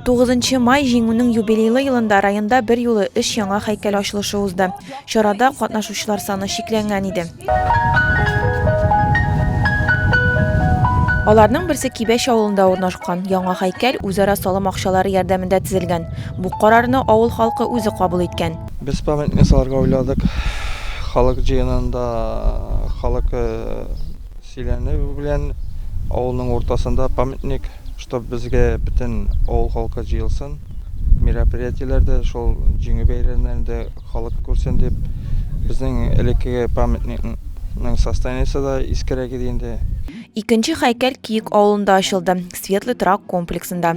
Тугызынчы май Җиңүнең юбилейлы елында районда берьюлы өч яңа һәйкәл ачылышы узды. Чарада катнашучылар саны чикләнгән иде. Аларның берсе Кибәч авылында урнашкан. Яңа һәйкәл үзара салым акчалары ярдәмендә төзелгән. Бу карарны авыл халкы үзе кабул иткән. Без памятник салырга уйладык. Халык җыенында халык Сөйләнү белән авылның уртасында памятник, чтобы безгә бөтен авыл халкы җыелсын. Мероприятиеләрдә, шул җиңү бәйрәмнәрендә халык күрсен дип, безнең элеккеге памятникның состояниесе да искерәк иде инде. Икенче хәйкәл Киек авылында ачылды, Светлый торак комплексында.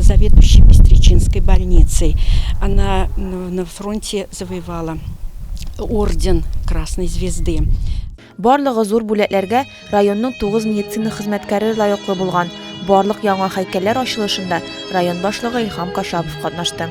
заведующий Бестричинской больницей. Она на фронте завоевала орден Красной Звезды. Барлыгы зур бүләкләргә районның тугыз медицина хезмәткәре лаеклы булган. Барлык яңа һәйкәлләр ачылышында район башлыгы Илһам Кашапов катнашты.